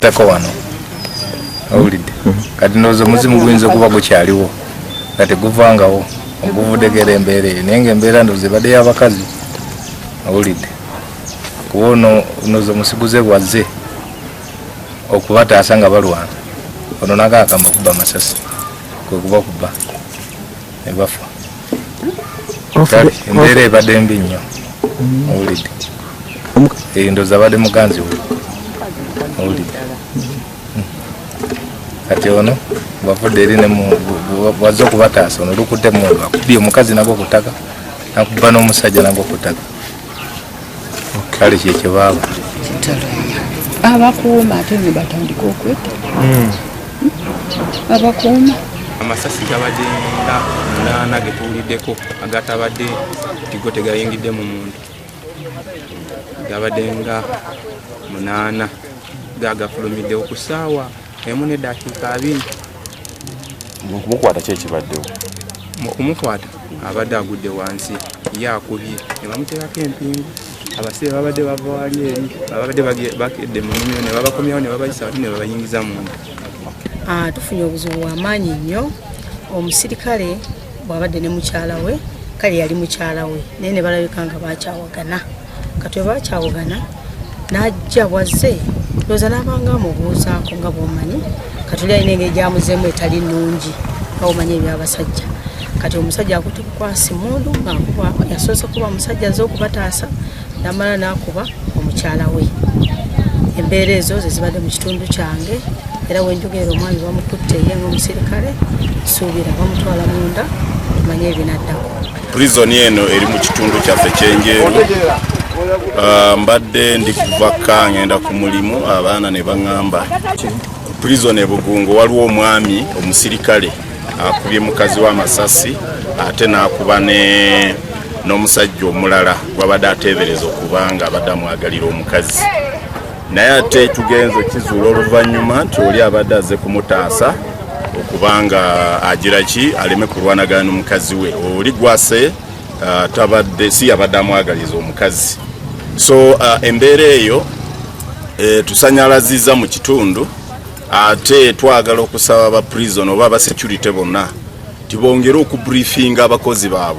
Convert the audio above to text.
tako wano awulidde kati ndowooza omuzimu guyinza okuba gukyaliwo nga teguvangawo oguvudegera embeera eyo naye nga embeera ndoze ebadde y'abakazi awulidde kuba ono noze omusiguze bwazze okubataasa nga balwana ono nagakama okuba amasasi kwekuba okuba nebafa embeera ebadde mbi nnyo awulidde endoza abadde muganzi we awulidde kati ono wavudde eri wazze okubataasa ono lukudde mundu akubye omukazi nago kutaka nakuba n'omusajja nago kutaka kale kyekyo baaba abakuuma ate nebatandika okweta hmm. abakuuma amasasi gabadde nga munaana getuwuliddeko agatabadde tigo tegayingidde mu muntu gabadde nga munaana gagafulumiddewo ku ssaawa emu nedakiika abiri mukumukwata ki ekibaddewo mu kumukwata abadde agudde wansi ye akubye ne bamuteerako empingu abasire babadde bava wali eri babadde bakedde mu nimiro ne babakomyawo ne babayisa wati ne babayingiza munda ah, tufunye obuzibu bwamaanyi nnyo omusirikale bwabadde ne mukyala we kale yali mukyala we naye ne balabika nga bakyawagana katwe bakyawagana n'ajja bwazze looza n'abanga amubuuzaako nga bwomanyi katuli alina engeri gyamuzeemu etali nnungi nga bwomanyi ebyabasajja kati omusajja akutukukwasi mundu nga yasoose kuba musajja aze okubataasa namala nakuba omukyala we embeera ezo zezibadde mu kitundu kyange era wenjogerera omwami bamukutte ye ngaomusirikale suubira bamutwala munda tumanye ebinaddako prizoni eno eri mu kitundu kyaffe kyenjeru ah, mbadde ndi kuva ka ngenda ku mulimu abaana ne baŋŋamba prizoni ebugungo waliwo omwami omusirikale akubye mukazi wa masasi ate n'akuba ne n'omusajja omulala gwabadde ateebereza okuba nga abadde amwagalira omukazi naye ate tugenze kizuula oluvannyuma nti oli abadde aze kumutaasa okubanga agira ki aleme kulwanagana n'omukazi we oli gwase uh, tabadde si yabadde amwagaliza omukazi so uh, embeera eyo eh, tusanyalaziza mu kitundu ate twagala okusaba ba prison oba ba security bonna tibongere okubriefinga abakozi baabwe